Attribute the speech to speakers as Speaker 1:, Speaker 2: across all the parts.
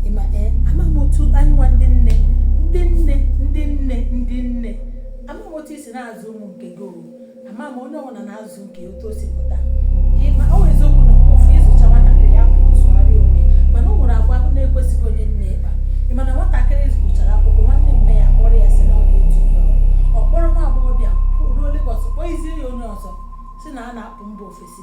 Speaker 1: ịma ee ama m otu anyị nwa ndị nne ndị nne ndị nne ndị nne ama m otu i si na-azụ ụmụ nke gị owu ama m onye ọbụla na-azụ nke otu o si pụta ịma ọ wụ eziokwu na ofu ịzụcha nwatakịrị ya bụ nsụgharị onwe mana o nwere agwa ahụ na-ekwesịghị onye nne ịkpa ị ma na nwatakịrị gụchara akwụkwọ nwanne mma ya kpọrọ ya sị na ọ ga-etinye ya ọrụ. ọ kpọrọ nwa agbọghọbịa ruo Legọs kpọnyezie ya onye ọzọ sị na a na-apụ mba ofesi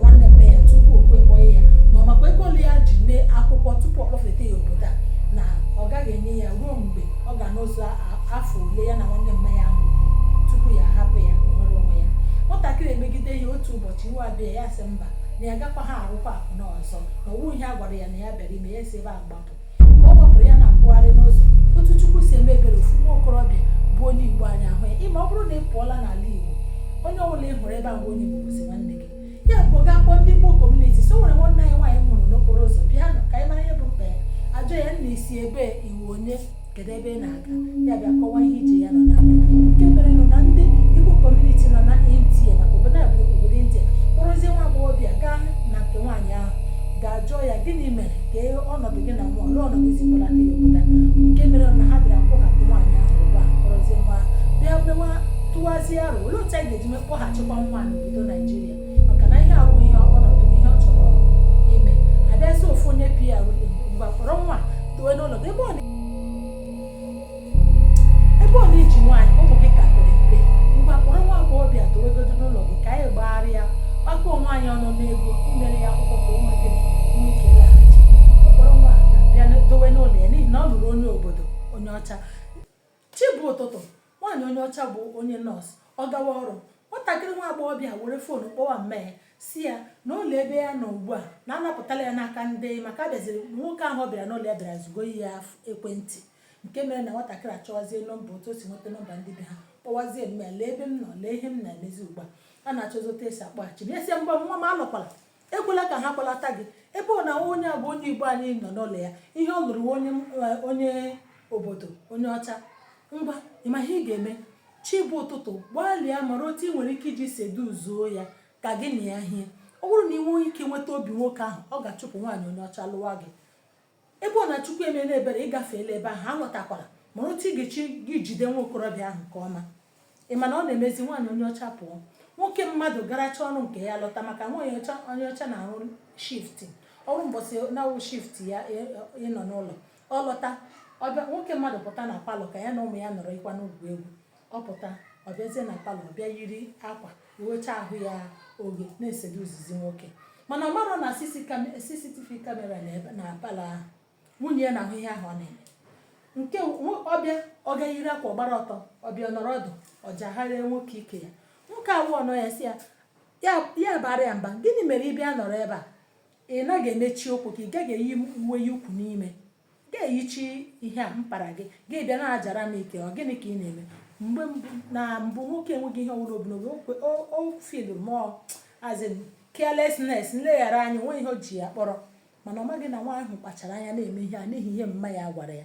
Speaker 1: nwanne mma ya tupu o kwekọghị ya na ọ makwa ego ole ya ji mee akwụkwọ tupu ọ kpọfeta ya obodo a na ọ gaghị enye ya ruo mgbe ọ ga-anọzu afọ ole ya na nwanne mma ya ahụ kwuru tupu ya ahapụ ya nwere onwe ya nwatakịrị emegide ya otu ụbọchị iwe abịa ya sị mba na ya agakwaha arụkwa akwụna ọzọ na ọ wụghị ihe a gwara ya na ya bịara ime ya si ebe a gbapụ ọ gbapụrụ ya na mkpagharị n'ụzọ otu chukwu si eme ebere ofu nwa okorobịa bụ onye igbo anyị ahụ ya ịma ọ bụrụ na ị pụọla n'ala igbo onye ọbụla ị hụrụ ebe a bụ onye igbo bụzi nwanne gị ya bụ gaa kpọọ ndị igbo kọmuniti sị o nwere nwanne anyị nwaanyị m hụrụ n'okporo ụzọ bịanụ ka anyị mara ihe bụ mkpa ya ajụọ ya nna i si ebee ị wụ onye kedu ebe ị na-aga ya bịa kọwa ihe ije ya nọ na nke mere nọ na ndị Igbo kọmuniti nọ na India maka obodo a bụ obodo India kpọrọzie nwa agbọghọbịa gaa na nke nwaanyị ahụ gaa jụọ ya gịnị mere ka ọnọdụ gị na nwa ọlụọ ọnọdụ i si kpọlata ya obodo nke mere na ha bịara kpọhapụ nwaanyị ahụ ugbu a kpọrọzie nwa bịa mewa tụwazie aro olee otu anyị ga-eji mee kpọghachikwa nwa n'obodo Naijiria maka na ihe ahụ ihe ọnọdụ ihe ọ chọrọ ime abịazi ofu onye pr mgbe kpọrọ nwa dowe n'ụlọ ebe ọ ebe ọ na i ji nwaanyị ụmụ gị ka pere mpe ngwa kpọrọ nwa agbọghọbịa dowegodo n'ụlọ gị ka anyị gbagharịa kpakọọ nwaanyị ọnụ n'ego mere ya akwụkwọ ka o nwee ike laghachi ọ kpọrọ nwa ada bịa dowe n'ụlọ ya n'ihi na ọ lụrụ onye obodo onye ọcha chi bọọ ụtụtụ Nwaanyị onye ọcha bụ onye nọọsụ, ọ gawa ọrụ, nwatakịrị nwa agbọghọbịa were foonu kpọwa mma ya sị ya na ụlọ ebe ya nọ ugbu a na anapụtala ya n'aka ndị maka abịaziri na nwoke ahụ ọ bịara n'ụlọ ya bịara zụgo ya ekwentị nke mere na nwatakịrị achọwazie nọmba otu o si nweta nọmba ndị be ha kpọwazie mma ya lee ebe m nọ lee ihe m na-emezi ugbu a a na-achọzi otu e si akpọghachi m ya sị mba nwa m alọkwala ekwela ka ha kpọlata gị ebe ọ na onye bụ onye igbo anyị ị nọ n'ụlọ ya ihe ọ lụrụ onye onye obodo onye ọcha ngwa ịma ihe ị ga-eme chi bọọ ụtụtụ gbalịa mara otu ị nwere ike iji seduzuo ya ka gị na ya hie ọ bụrụ na ị nwee ike nweta obi nwoke ahụ ọ ga-achụpụ nwaanyị onye ọcha lụwa gị Ebe ọ na Chukwu emeela ebere, ị gafeela ebe ahụ, alọtakwala, mara otu ị ga-eji jide nwa okorobịa ahụ nke ọma. Ị ma na ọ na-emezi nwaanyị onye ọcha pụọ, nwoke mmadụ garacha ọrụ nke ya lọta maka nwaanyị ọcha onye ọcha na-arụ shifti ọrụ mbọsị na-awụ shifti ya e, e, ịnọ n'ụlọ ọ lọta ọ bịa nwoke mmadụ pụta na palọ ka ya na ụmụ ya nọrọ ịkwa na-egwu egwu ọ pụta ọ bịazie na palọ bịa yiri akwa wecha ahụ ya oghe na-eseducezi nwoke mana ọ marọ na cctv kamera na palọ ahụ nwunye ya na-ahụ ihe ahụ ọ na-eme nke ọ bịa ọ ga-eyiri akwa gbara ọtọ ọ bịa nọrọ ọdụ ọ jagharịa nwoke ike ya nwoke ahụ ọ nọ ya sị ya ya baara ya mba gịnị mere ị bịa nọrọ ebe a ị naghị emechi ụkwụ ka ị gaghị eyi uwe ya ukwu n'ime ga-eyichi ihe a mpara gị gị bịa na-ajara m ike ọ gịnị ka ị na-eme mgbe mbụ na mbụ nwoke enweghị ihe ọbụla o bu n'obi okwe- o o feelu ma ọ as in carelessness nleghara anya o nweghị ihe o ji ya kpọrọ mana ọ maghị na nwa ahụ kpachara anya na-eme ihe a n'ihi ihe mma ya gwara ya